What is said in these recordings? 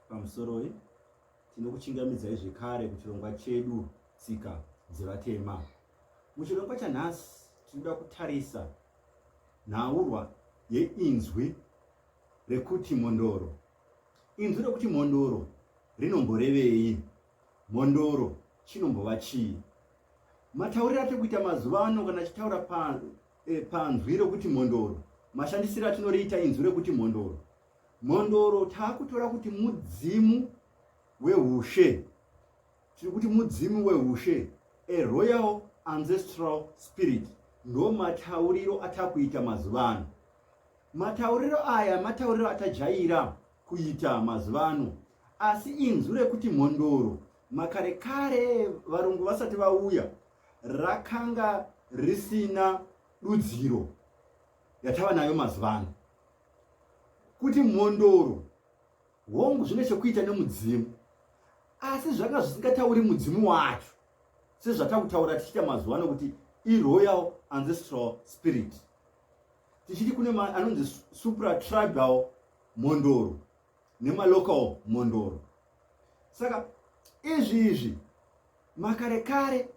Pamusoroi, tinokuchingamidzai zvekare kuchirongwa chedu Tsika dzeVatema. Muchirongwa chanhasi tinoda kutarisa nhaurwa yeinzwi rekuti mhondoro. Inzwi rekuti mhondoro rinomborevei? Mhondoro chinombova chii? Matauriro atiri kuita mazuva ano kana achitaura eh, panzwi rekuti mhondoro, mashandisiro atinoriita inzwi rekuti mhondoro Mhondoro takutora kuti mudzimu wehushe, tiri kuti mudzimu wehushe, a royal ancestral spirit, ndo matauriro atakuita mazuva ano. Matauriro aya matauriro atajaira kuita mazuva ano, asi inzwi rekuti mhondoro makare kare varungu vasati vauya rakanga risina dudziro yatava nayo mazuva ano. kuti mhondoro hongu zvine chekuita nemudzimu asi zvanga zvisingatauri mudzimu wacho sezvatakutaura tichiita mazuva ano kuti iroyal ancestral spirit tichiti kune anonzi supratribal mhondoro nemalocal mhondoro saka izvi izvi makare kare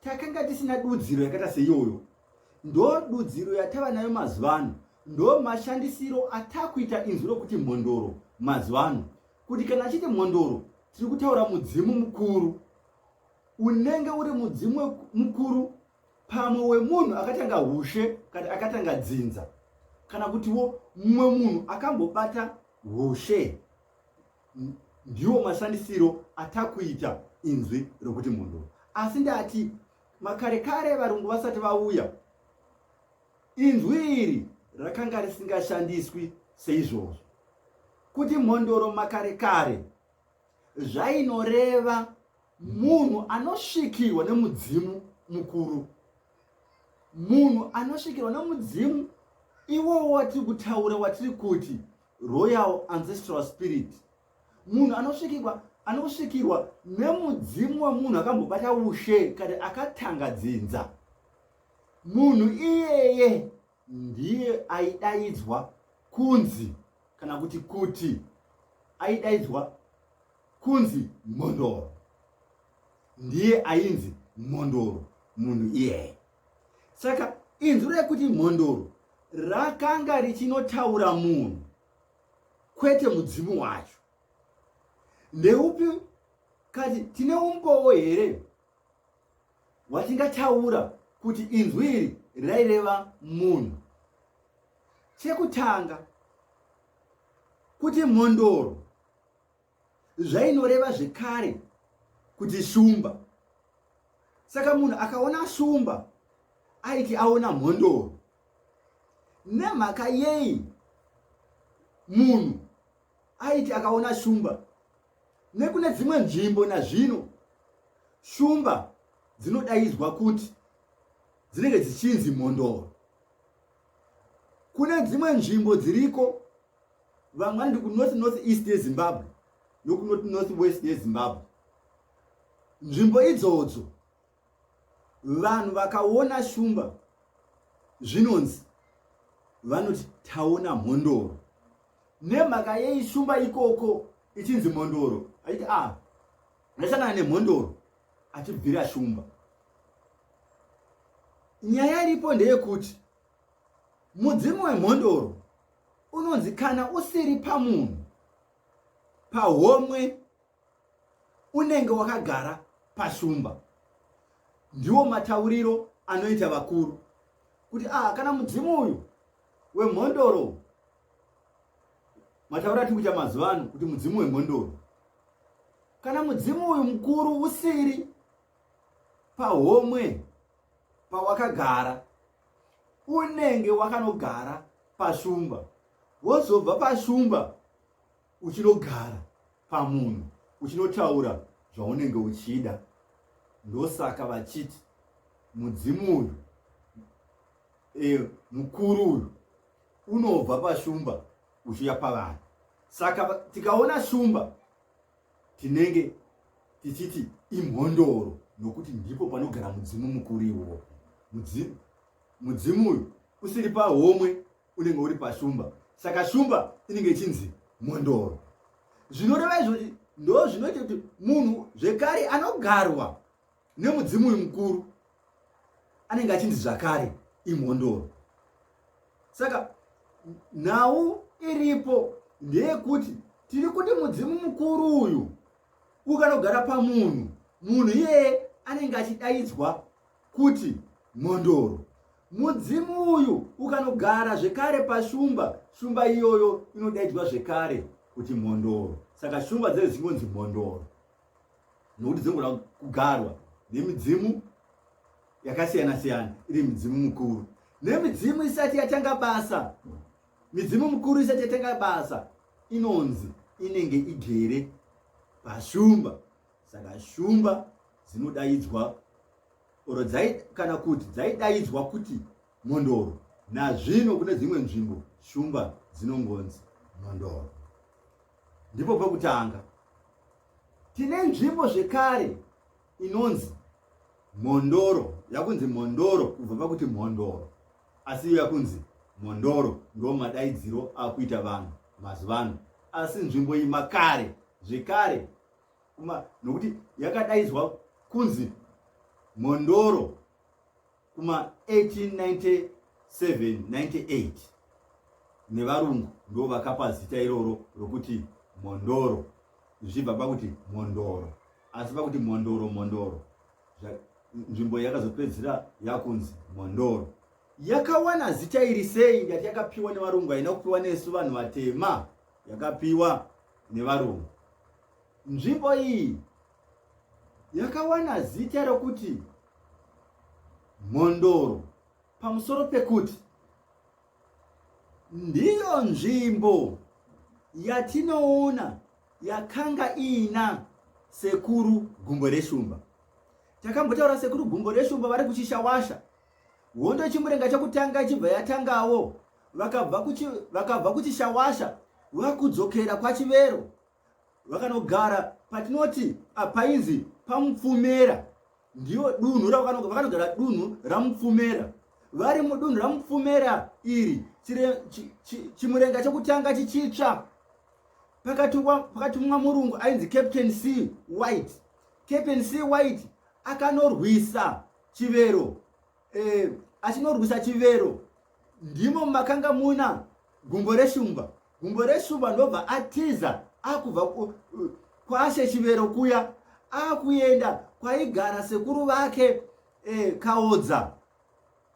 takanga tisina dudziro yakaita seiyoyo ndo dudziro yatava nayo mazuva ano ndo mashandisiro atakuita inzwi rokuti mhondoro mazuva ano kuti kana achiti mhondoro tiri kutaura mudzimu mukuru unenge uri mudzimu mukuru pamwe wemunhu akatanga hushe kana akatanga dzinza kana kutiwo mumwe munhu akambobata hushe ndiwo mashandisiro atakuita inzwi rokuti munhu asi ndati makare kare varungu vasati vauya inzwi iri rakanga risingashandiswi seizvozvo kuti mhondoro makare kare zvainoreva munhu anosvikirwa nemudzimu mukuru munhu anosvikirwa nemudzimu iwowo watiri kutaura watiri kuti royal ancestral spirit munhu anosvikirwa anosvikirwa nemudzimu wemunhu akambobata ushe kana akatanga dzinza munhu iyeye ndiye aidaidzwa kunzi kana kuti kuti aidaidzwa kunzi mhondoro ndiye ainzi mhondoro munhu iyeye saka inzwi rekuti mhondoro rakanga richinotaura munhu kwete mudzimu wacho ndeupi kati tine umbowo here watingataura kuti inzwi iri raireva munhu chekutanga kuti mhondoro zvainoreva zvekare kuti shumba saka munhu akaona shumba aiti aona mhondoro nemhaka yei munhu aiti akaona shumba nekune dzimwe nzvimbo nazvino shumba dzinodaidzwa kuti dzinenge dzichinzi mhondoro kune dzimwe nzvimbo dziriko vamwe vanondi kunorth north east yezimbabwe nokunorth north west yezimbabwe nzvimbo idzodzo Vanhu vakaona shumba zvinonzi vanoti taona mhondoro. Nemhaka yei shumba ikoko ichinzi mhondoro? Aiti a ah, ndasangana nemhondoro achibvira shumba. Nyaya iripo ndeyekuti mudzimu wemhondoro unonzi kana usiri pamunhu pahomwe unenge wakagara pashumba ndiwo matauriro anoita vakuru kuti ah kana mudzimu uyu wemhondoro matauriro atiri kuita mazuva ano kuti mudzimu wemhondoro kana mudzimu uyu mukuru usiri pahomwe pawakagara unenge wakanogara pashumba wozobva pashumba uchinogara pamunhu uchinotaura zvaunenge uchida ndosaka vachiti mudzimu uyu e, mukuru uyu unobva pashumba uchiuya pavanhu saka tikaona shumba tinenge tichiti imhondoro nokuti ndipo panogara mudzimu mukuru iwowo mudzimu uyu usiri pahomwe unenge uri pashumba saka shumba inenge ichinzi mondoro zvinoreva izvozvi ndo zvinoita kuti munhu zvekare anogarwa nemudzimu uyu mukuru anenge achinzi zvakare imhondoro saka nhau iripo ndeyekuti tiri kuti mudzimu mukuru uyu ukanogara pamunhu munhu iyeye anenge achidaidzwa kuti mhondoro mudzimu uyu ukanogara zvekare pashumba shumba iyoyo inodaidzwa zvekare kuti mhondoro saka shumba dzee dzingonzi mhondoro nokuti dzinogona kugarwa nemidzimu yakasiyana siyana iri midzimu mukuru nemidzimu isati yatanga basa midzimu mukuru isati yatanga basa inonzi inenge igere pashumba saka shumba dzinodaidzwa oro dzai kana kuti dzaidaidzwa kuti mhondoro nazvino kune dzimwe nzvimbo shumba dzinongonzi mhondoro ndipo pekutanga tine nzvimbo zvekare inonzi mhondoro yakunzi mhondoro kubva pakuti mhondoro asi iyo yakunzi mhondoro ndo madaidziro akuita vanhu mazuvano asi nzvimbo iyi makare zvekare kuma nokuti yakadaidzwa kunzi mhondoro kuma 1897 98 nevarungu ndo vakapa zita iroro rokuti mhondoro zvichibva pakuti mhondoro asi pakuti mhondoro mhondoro nzvimbo yakazopedzisira yakunzi mhondoro yakawana zita iri sei ndati yakapiwa nevarungu haina kupiwa nesu vanhu vatema yakapiwa nevarungu. Nzvimbo iyi yakawana zita rokuti Mhondoro pamusoro pekuti ndiyo nzvimbo yatinoona yakanga iina sekuru gumbo reshumba. Takambotaura sekuru gumbo reshumba vari kuchishawasha Hondo Chimurenga chokutanga ichibva yatangawo, vakabva kuchi, vakabva kuChishawasha vakudzokera kwaChivero vakanogara patinoti apainzi pamupfumera ndiyo dunhu vakanogara dunhu ramupfumera vari mudunhu ramupfumera iri chimurenga chokutanga chichitsva pakatumwa murungu ainzi captain c white captain c white akanorwisa chivero eh, achinorwisa chivero ndimo makanga muna gumbo reshumba gumbo reshumba ndobva atiza akubva kwashe chivero kuya akuenda kwaigara sekuru vake eh, kaodza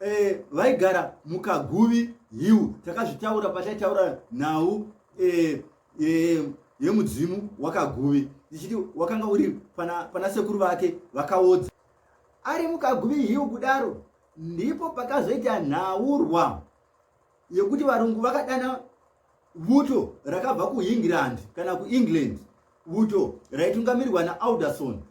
eh, vaigara mukaguvi hiu takazvitaura pataitaura nhau eh, eh, yemudzimu wakaguvi ndichiti wakanga uri pana, pana sekuru vake vakaodza Ari mukaguvi hiu kudaro ndipo pakazoita nhaurwa yekuti varungu vakadana vuto rakabva kuengland kana kuengland vuto raitungamirirwa naalderson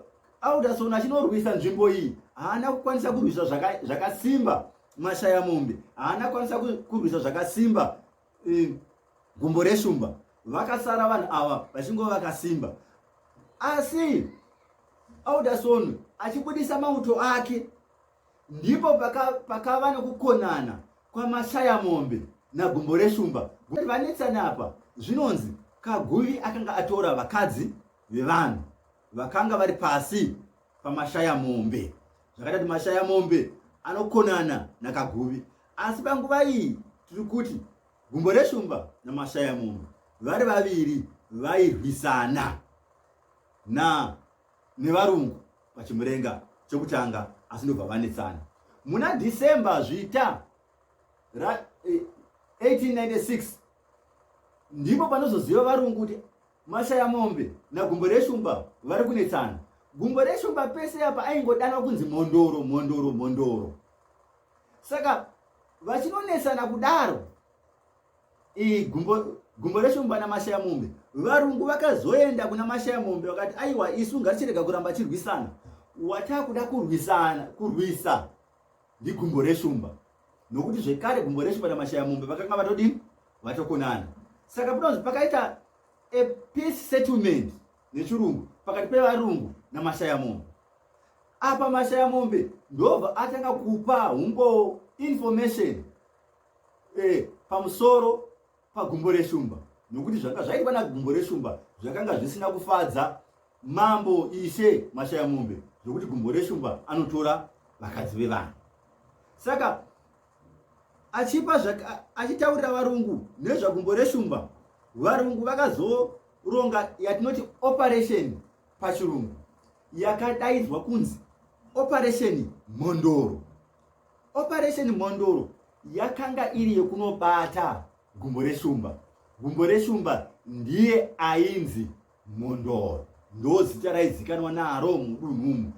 alderson achinorwisa nzvimbo iyi haana kukwanisa kurwisa zvakasimba mashaya mombe haana kukwanisa kurwisa zvakasimba mm, gumbo reshumba vakasara vanhu ava vachingova vakasimba asi alderson achibudisa mauto ake ndipo pakava paka nekukonana kwamashaya mombe nagumbo reshumba vanetsana apa zvinonzi kaguvi akanga atora vakadzi vevanhu vakanga vari pasi pamashaya mombe zvakaita kuti mashaya mombe anokonana nakaguvi Asi panguva iyi tiri kuti gumbo reshumba namashaya munhu vari vaviri vairwisana na nevarungu pachimurenga chokutanga asi ndobva vanetsana muna december zvita ra eh, 1896 ndipo panozoziva varungu kuti mashaya mombe nagumbo reshumba vari kunetsana gumbo reshumba pese apa aingodanwa kunzi mhondoro mhondoro mhondoro saka vachinonesana kudaro iyi gumbo gumbo reshumba namashaya mombe varungu vakazoenda kuna mashaya mombe vakati aiwa isu ngatichirega kuramba chirwisana watakuda kurwisana kurwisa ndigumbo reshumba nokuti zvekare gumbo reshumba namashaya mombe vakanga vatodini vatokonana saka pinozi pakaita a peace settlement nechirungu pakati pevarungu namashaya mombe apa mashaya mombe ndobva atanga kupa umbowo information eh, pamusoro pagumbo reshumba nokuti zvanga zvaitwa nagumbo reshumba zvakanga zvisina kufadza mambo ishe mashaya mombe zvokuti gumbo reshumba anotora vakadzi vevanhu saka achipa achitaurira varungu nezvagumbo reshumba varungu vakazoronga yatinoti operation pachirungu yakadaidzwa kunzi operation mhondoro operation mhondoro yakanga iri yekunobata gumbo reshumba gumbo reshumba ndiye ainzi mhondoro ndo zita raizikanwa naro mudunhumu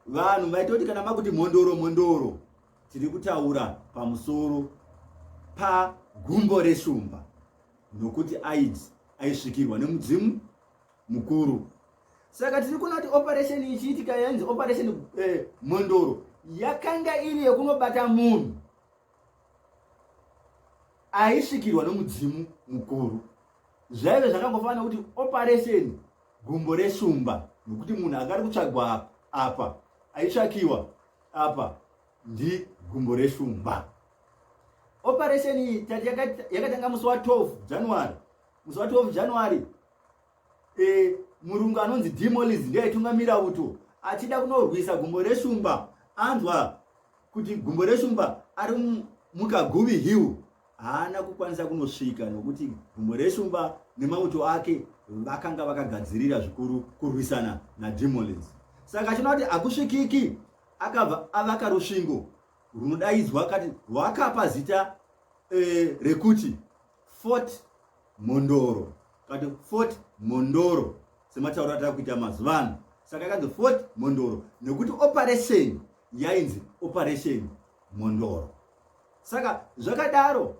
vanhu vaitoti kana makuti mhondoro mhondoro Tiri kutaura pamusoro pagumbo reshumba nokuti aids aisvikirwa nemudzimu mukuru saka tiri kuona kuti operation ichiitika yanzi operation eh, mhondoro yakanga iri yekunobata munhu aisvikirwa nomudzimu mukuru zvaive zvakangofanana kuti operation gumbo reshumba nokuti munhu akari kutsvagwa apa aitsvakiwa apa ndi gumbo reshumba operation iyi tati yakatanga musi wa 12 january musi wa 12 january e, murungu anonzi demolis ndiye aitungamira uto achida kunorwisa gumbo reshumba anzwa kuti gumbo reshumba ari mukaguvi hill haana kukwanisa kunosvika nokuti gumbo reshumba nemauto ake vakanga vakagadzirira zvikuru kurwisana nadrimolis saka achinoa kuti hakusvikiki akabva avaka rusvingo runodaidzwa kati rwakapa zita e, rekuti fort mondoro kati fort mondoro sematauro atava kuita mazuva ano saka ikanzi fort mondoro nekuti operation yainzi operation mhondoro saka zvakadaro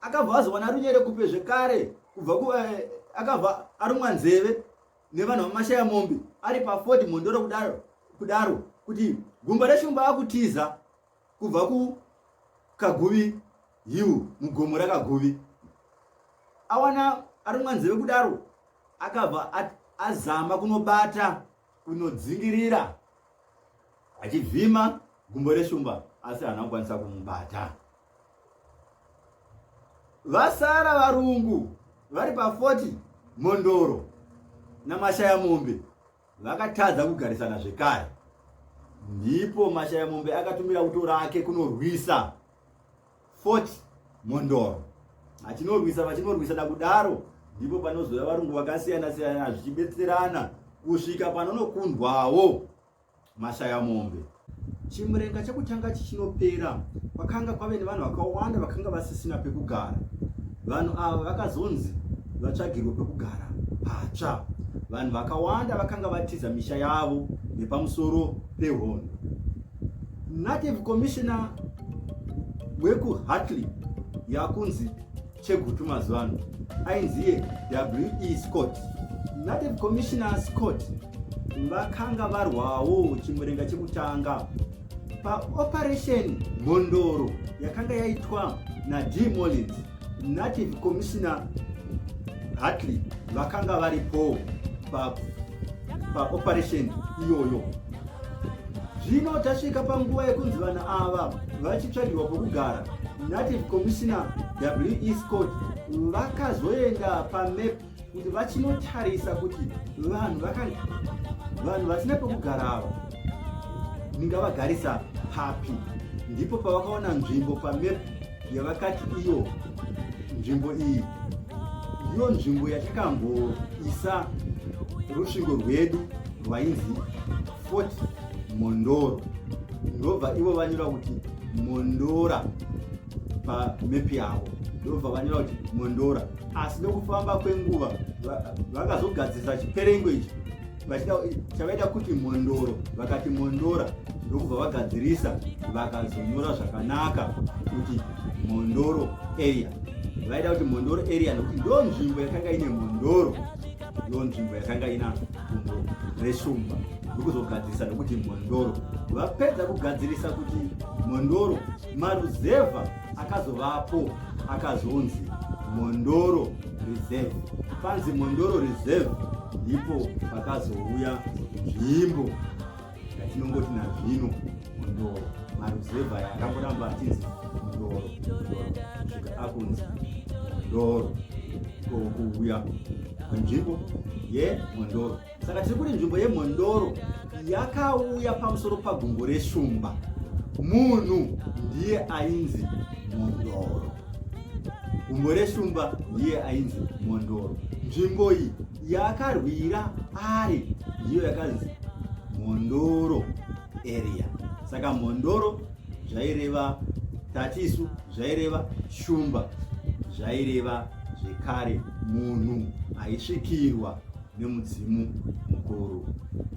akabva azowana runyere kupe zvekare kubva ku eh, akabva arumwa nzeve nevanhu vamashaya mombe ari paford mhondoro kudaro kudaro kuti gumba reshumba akutiza kubva ku kaguvi hill mugomo rakaguvi awana arumwa nzeve kudaro akabva azama kunobata kunodzingirira achivhima gumbo reshumba asi haana kukwanisa kumubata vasara varungu vari pa40 mondoro namashaya mombe vakatadza kugarisana zvekare ndipo mashaya mombe akatumira uto rake kunorwisa Fort Mondoro achinorwisa vachinorwisana kudaro ndipo panozouya varungu vakasiyana siyana zvichibetserana kusvika panonokundwawo mashaya mombe chimurenga chekutanga chichinopera kwakanga kwave nevanhu vakawanda vakanga vasisina pekugara vanhu ava vakazonzi vatsvagirwe pekugara patsva vanhu vakawanda vakanga vatiza misha yavo nepamusoro pehondo Native commissioner wekuHartley yakunzi Chegutu mazuva ano ainziye WE Scott. Native commissioner Scott vakanga varwawo chimurenga chekutanga paoperation mhondoro yakanga yaitwa naD Mullins. Native Commissioner Hartley vakanga varipo paoperation pa iyoyo. Zvino tasvika panguva yekunzi vanhu ava vachitsvagirwa pokugara. Native Commissioner WE Scott vakazoenda pamap kuti vachinotarisa kuti vanhu vanhu vasina pekugara ava ndingavagarisa papi ndipo pavakaona nzvimbo pamep yavakati iyo nzvimbo iyi ndiyo nzvimbo yatakamboisa rusvingo rwedu rwainzi fort mondoro ndobva ivo vanyora kuti mondora pamepi yavo ndobva vanyora kuti mondora asi nekufamba kwenguva vakazogadzirisa chiperengo ichi chavaida kuti mondoro vakati mondora ndokubva vagadzirisa vakazonyora zvakanaka kuti mondoro area vaida kuti mondoro area nokuti ndo nzvimbo yakanga ine mondoro ndo nzvimbo yakanga ina dumbo reshumba ndokuzogadzirisa nokuti mondoro vapedza kugadzirisa kuti mondoro maruzevha akazovapo akazonzi mondoro reserve panzi mondoro reserve ndipo pakazouya nzvimbo yatinongoti nazvino mondoro maruzevha aya akamboramba achinzi mondoro kusvika akunzi mondoro ikokuuya panzvimbo yemondoro saka tiri kuti nzvimbo yemhondoro yakauya pamusoro pagumbo reshumba munhu ndiye ainzi mhondoro gumbo reshumba ndiye ainzi mhondoro nzvimbo iyi yakarwira ari ndiyo yakanzi mhondoro area saka mhondoro zvaireva tatisu zvaireva shumba zvaireva zvekare munhu aisvikirwa nemudzimu mukuru